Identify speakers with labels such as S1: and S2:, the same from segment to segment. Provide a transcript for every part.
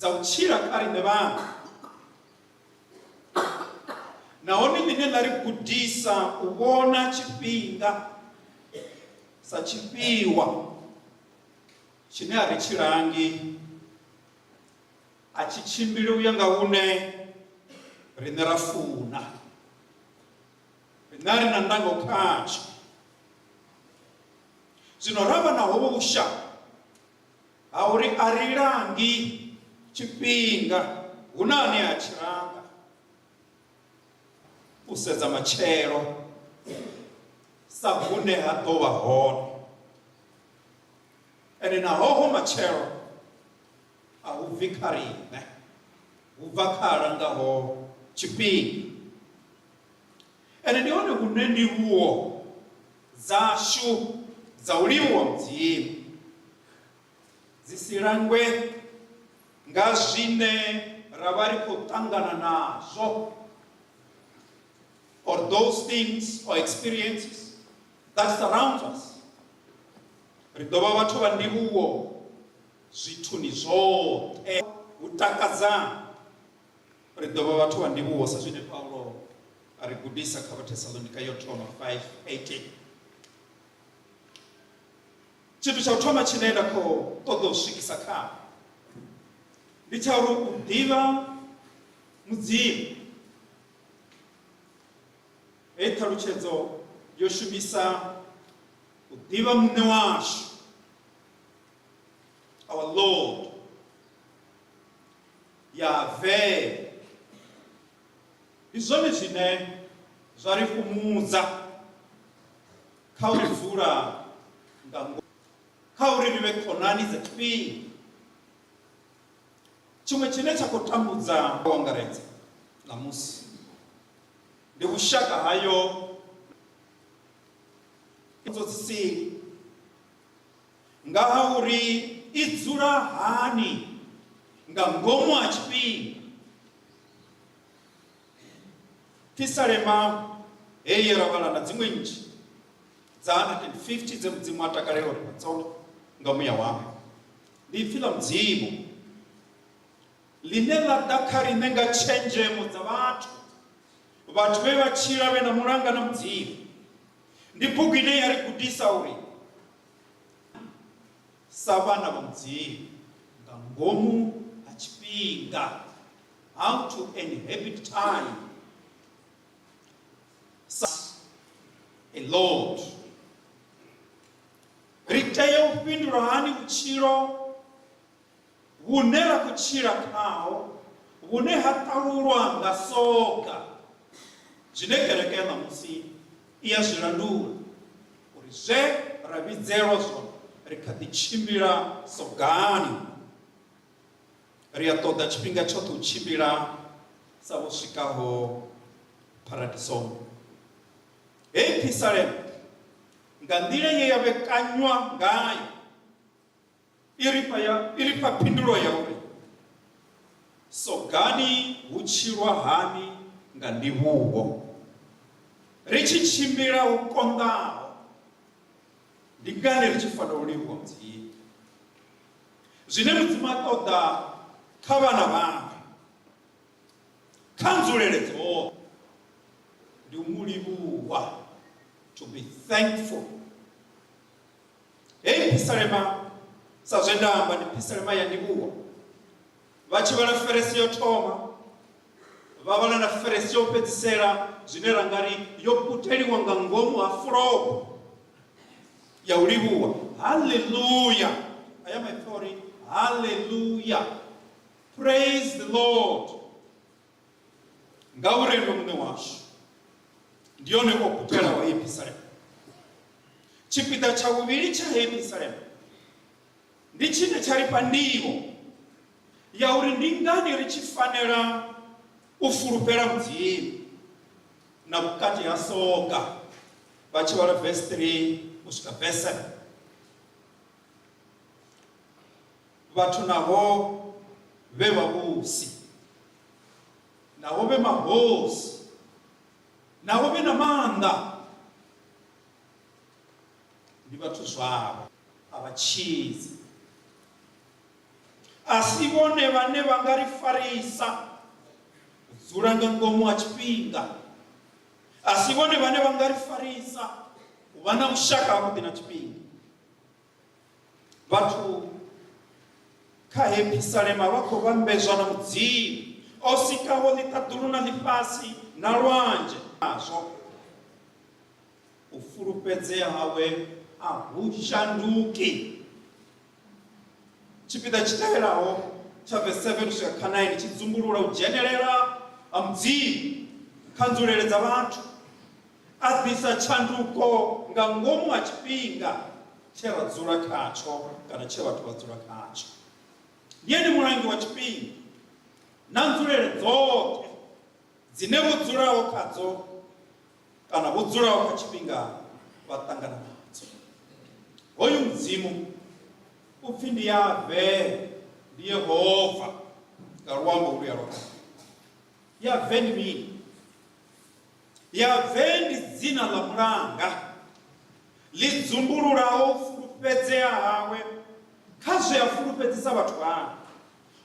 S1: dza u tshila kha riṋe vhaṅwe nahone ḽine ḽa ri gudisa u vhona tshifhinga sa tshifhiwa tshine a ri tshilangi a tshi tshimbili u ya nga hune riṋe ra funa riṋe a ri na ndango khatsho zwino ra vha na hovho vhushaka Ha uri a ri langi tshifhinga, hu na ane a tshi langa. U sedza matshelo sa hune ha ḓo vha hone, ende na hoho matshelo a hu bvi kha riṋe, hu bva kha a langaho tshifhinga. Ende ndi hone hune ndivhuwo dzashu dza u livhuwa Mudzimu dzi si langwe nga zwine ra vha ri khou ṱangana nazwo or those things or experiences that surrounds us. Ri ḓo vha vhathu vha ndivhuwo zwithuni zwoṱhe. Hu takadzani. Ri ḓo vha vhathu vha ndivhuwo sa zwine Paulo a ri gudisa kha Vhathesalonika yo thoma 5:18. Tshithu tsha u thoma tshine nda khou ṱoḓa u swikisa kha ndi tsha uri u ḓivha mudzimu heyi ṱhalutshedzo yo shumisa u ḓivha muṋe washu our lord Yavee! Ndi zwone zwine zwa ri fhumudza kha u dzula nga ngomu, kha uri ri vhe khonani dza tshifhinga. Tshiṅwe tshine tsha khou tambudza u angaredza ṋamusi ndi vhushaka hayo na pfunzo dzi sili. nga ha uri i dzula hani nga ngomu ha tshifhinga. Pisalema heyi ye ra vhala na dziṅwe nnzhi dza 150 dze mudzimu a takalela uri vhatsonde nga muya wawe ndi ipfi ḽa mudzimu ḽine ḽa ḓa kha riṋe nga tshenzhemo dza vhathu vhathu vhe vha tshila vhe na mulanga na mudzimu Ndi bugu ine ya ri gudisa uri sa vhana vha Mudzimu nga ngomu ha tshifhinga, how to inhabit time, a lot. Ri tea u fhindula hani vhutshilo vhune ra khou tshila khaho vhune ha ṱalulwa nga soga, zwine kereke ya ṋamusi i a zwi landula uri zwe ra vhidzelwa zwone ri kha ḓi tshimbila sogani. Ri a ṱoḓa tshifhinga tshoṱhe u tshimbila sa vho swikaho pharadisoni. Hei phisalema nga nḓila ye ya vhekanywa ngayo I ri fha ya, i ri fha phindulo ya uri, Sogani hu tshilwa hani nga ndivhuho, ri tshi tshimbila hu konḓaho, ndi ngani ri tshi fanela u livhuwa Mudzimu? Zwine Mudzimu a ṱoḓa kha vhana vhawe kha nzulele dzoṱhe ndi u mu livhuwa, to be thankful. Heyi phisalema, sa zwe nda amba, ndi phisalema ya ndivhuwo. Vha tshi vhala feresi yo thoma, vha vhala na feresi yo fhedzisela, zwine ra nga ri yo puteliwa nga ngomu ha fulogo ya u livhuwa. Haleluya! Aya maipfi a uri, Haleluya! Praise the Lord! Ngauri ene muṋe washu ndi yone o gudelaho Yerusalema. Tshipiḓa tsha vhuvhili tsha Yerusalema ndi tshine tsha ri fha ndivho ya uri ndi ngani ri tshi fanela u fulufhela Mudzimu na vhukati ha soga vha tshi vhala vesi 3 u swika vesi 7. Vhathu naho vhe vhavhusi, naho vhe mahosi, naho vhe na maanḓa, ndi vhathu zwavho, a vha tshidzi. A si vhone vhane vha nga ri farisa u dzula nga ngomu ha tshifhinga, a si vhone vhane vha nga ri farisa u vha na vhushaka havhuḓi na tshifhinga. vhathu kha hepisalema vha khou vhambedzwa na mudzimu o sikaho ḽiṱaḓulu na ḽifhasi na lwanzhe nazwo u fulufhedzea hawe a hu shanduki tshipiḓa tshi tevhelaho tsha vese 7 u swika kha 9 tshi dzumbulula u dzhenelela ha mudzimu kha nzulele dza vhathu A ḓisa tshanduko nga ngomu ha tshifhinga tshe ra dzula khatsho kana tshe vhathu vha dzula khatsho. Ndi ene Mulangi wa tshifhinga na nzulele dzoṱhe dzine vho dzulaho khadzo kana vho dzulaho kha tshifhinga vha ṱangana nadzo. Hoyu Mudzimu u pfi ndi Yahve, ndi Yehova nga luambo holuya lwa Kale. Yahve ndi mini? Yavee ndi dzina ḽa mulanga, ḽi dzumbululaho u fulufhedzea hawe kha zwe a fulufhedzisa vhathu vhawe.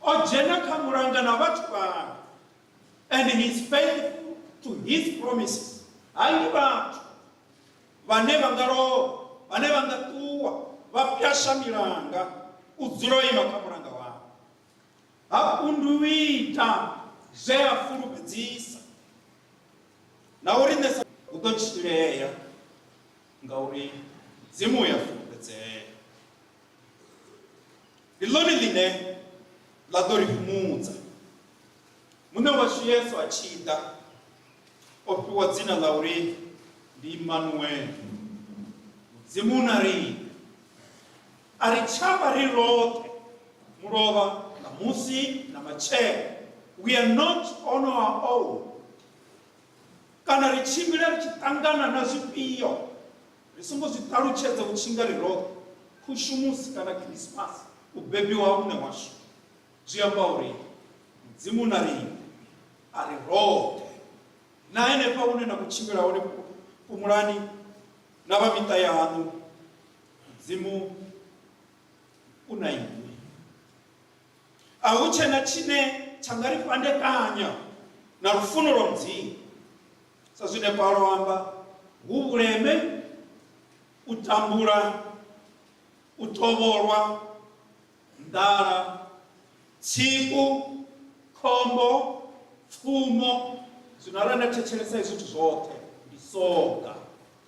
S1: O dzhena kha mulanga na vhathu vhawe, and he is faithful to his promises. Ha ndi vhathu vhane vha nga lovha, vhane vha nga ṱuwa vha pwasha milanga, u dzula o ima kha mulanga wawe. Ha kundu u ita zwe a fulufhedzisa, na u riṋe sa. Hu ḓo tshilea, ngauri Mudzimu u a fulufhedzea. Ndi ḽone ḽine ḽa ḓo ri fhumudza. Muṋe washu Yesu a tshi ḓa, o fhiwa dzina ḽa uri ndi Imanuele, Mudzimu u na riṋe. A ri tsha vha ri roṱhe mulovha ṋamusi na matshelo. We are not on our own. Kana ri tshimbila ri tshi ṱangana na zwifhio ri songo zwi ṱalutshedza u tshinga ri roṱhe, Khushumusi kana Khirisimasi, u bebiwa ha Muṋe washu. Zwi amba uri Mudzimu na riṋe a ri roṱhe. Na henefha hune na khou tshimbila hone, fhumulani. na vha miṱa yaṋu mudzimu u na inwi a hu tshe na tshine tsha nga ri fhandekanya na lufuno lwa mudzimu sa zwine paulo amba hu vhuleme u tambula u tovholwa nḓala, tsiku, khombo, pfumo. Zwino arali nda thetshelesa hezwi zwithu zwoṱhe, ndi soga,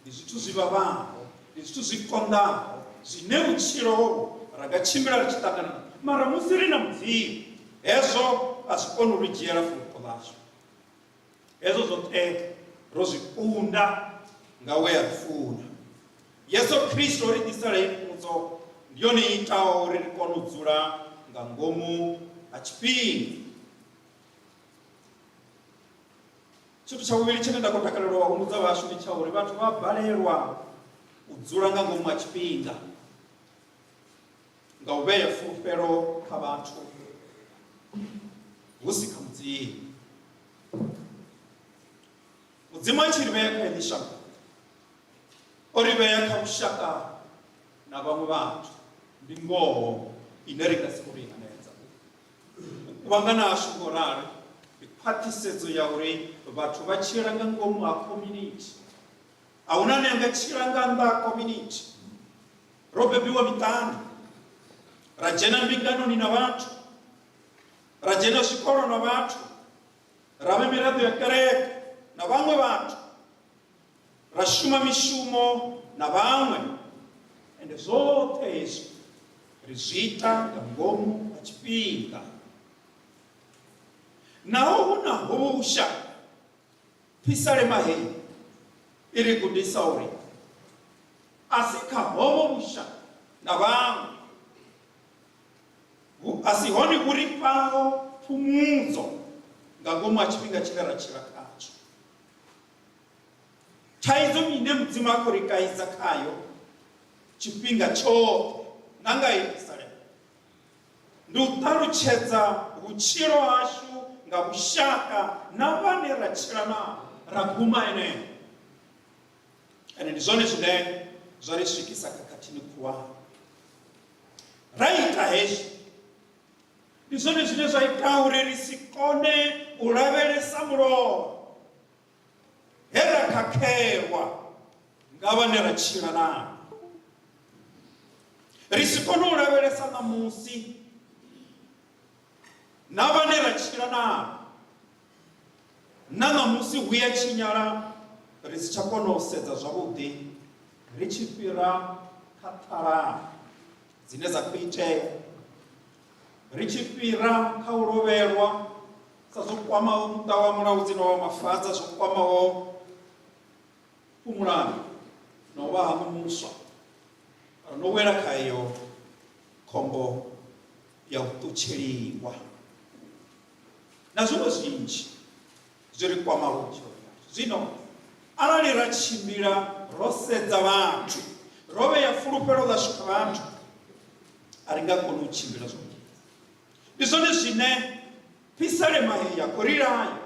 S1: ndi zwithu zwi vhavhaho, ndi zwithu zwi konḓaho, zwine vhutshilo hovhu ra nga tshimbila ri tshi ṱangana na mara musi ri na Mudzimu, hezwo a zwi koni u ri dzhiela fulufho ḽashu. Hezwo zwoṱhe ro zwi kunda nga we a ri funa. Yesu Kristo o ri ḓisela heyi pfumbudzo, ndi yone i itaho uri ri kone u dzula nga ngomu ha tshifhinga. Tshithu tsha vhuvhili tshine nda khou takalela u humbudza vhashu ndi tsha uri vhathu vha balelwa u dzula nga ngomu ha tshifhinga. nga u vhea fulufhelo kha vhathu hu si kha mudzimu mudzimu a tshi ri vhea kha ini shango o ri vhea kha vhushaka na vhaṅwe vhathu ndi ngoho ine ri nga si kone u hanedza u kuvhangana ashu ngo rali ndi khwaṱhisedzo ya uri vhathu vha tshila nga ngomu ha community a huna ne anga tshila nga nnḓa ha community ro bebiwa miṱani ra dzhena mbinganoni na vhathu ra dzhena zwikolo na vhathu ra vha miraḓo ya kereke na vhaṅwe vhathu ra shuma mishumo na vhaṅwe ende zwoṱhe hezwi ri zwi ita nga ngomu ha tshifhinga naho hu na husha Phisalema heyi i ri gudisa uri a si kha hovho vhushaka na vhaṅwe vhu a si hone vhu ri fhaho phumudzo nga ngomu ha tshifhinga tshine ra tshila khatsho. Thaidzo ndi ine Mudzimu a khou ri kaidza khayo tshifhinga tshoṱhe na nga heyi phisalema. Ndi u ṱalutshedza vhutshilo hashu nga vhushaka na vhane ra tshila navho, ra guma henefho. Ende ndi zwone zwine zwa ri swikisa khakhathini khulwane. Ra ita hezwi, ndi zwone zwine zwa ita uri ri si kone u lavhelesa mulovha. he ra khakhelwa nga vhane ra tshila navho ri si kone u lavhelesa ṋamusi na vhane ra tshila navho na ṋamusi hu ya tshinyala ri si tsha kona u sedza zwavhuḓi ri tshi fhira kha ṱhalana dzine dza khou itea ri tshi fhira kha u lovhelwa sa zwo kwamaho muṱa wa mulaudzi na wa mafaza zwo kwamaho fhumulano na u vha hanu muswa ri no wela kha iyo khombo ya u ṱutsheliwa na zwiṅwe zwinzhi zwi ri kwamaho vhutshilo zwino arali ra tshimbila ro sedza vhathu ro vhea fulufhelo ḽashu kha vhathu a ri nga koni u tshimbila zwavhuḓi ndi zwone zwine pisalema heyi ya khou ri laya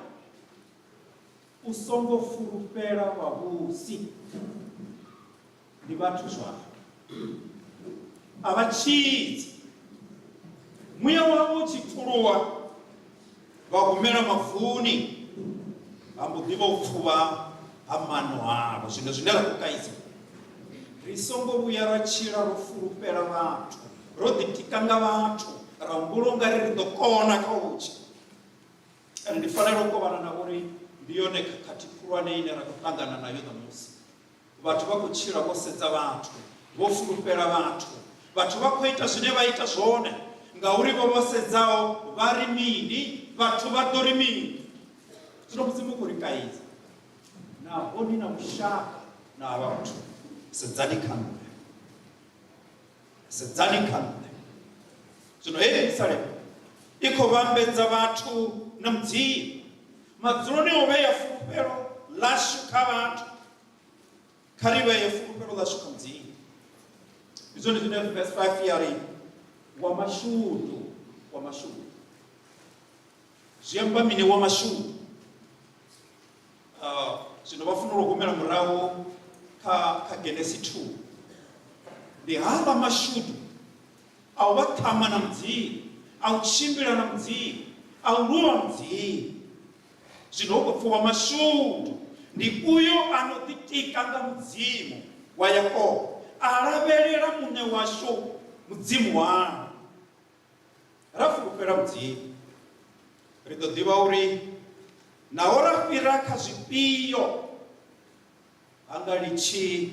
S1: u songo fulufhela vhavhusi ndi vhathu zwavho a vha tshidzi muya wavho u tshi pfuluwa Vha humela mavuni, ha mbo ḓi vha u pfuvha ha maano avho. Zwino zwine ra khou kaidza, ri songo vhuya ra tshila ro fulufhela vhathu, ro ḓitika nga vhathu, ra humbula ungari ri ḓo kona kha u tshi kana ndi fanela u kovhana na uri ndi yone khakhathi khulwane ine ra khou ṱangana nayo ṋamusi. vhathu vha khou tshila vho sedza vhathu vho fulufhela vhathu vhathu vha khou ita zwine vha ita zwone ngauri vho vho sedzaho vha ri mini vhathu vha ḓo ri mini zwino mudzimu khou ri kaidza naho ni na vhushaka na havha vhathu sedzani kha nṋe sedzani kha nṋe zwino hei yerusalema i khou vhambedza vhathu na mudzimu madzuloni o vhea fulufhelo ḽashu kha vhathu kha ri vhee fulufhelo ḽashu kha mudzimu ndi zwone zwine verse 5 ya ri wa mashudu wa mashudu zwi amba mini wa mashudu Uh, zwino vha fanela u humela murahu kha kha genesi 2 ndi havha mashudu a u vha ṱhama na mudzimu a u tshimbila na mudzimu a u lwa mudzimu zwino hu khou pfuwa mashudu ndi uyo a no ḓitika nga mudzimu wa yakobo a lavhelela muṋe washu mudzimu wawe ra fulufhela Mudzimu. Ri ḓo ḓivha uri naho ra fhira kha zwifhio ha nga litshi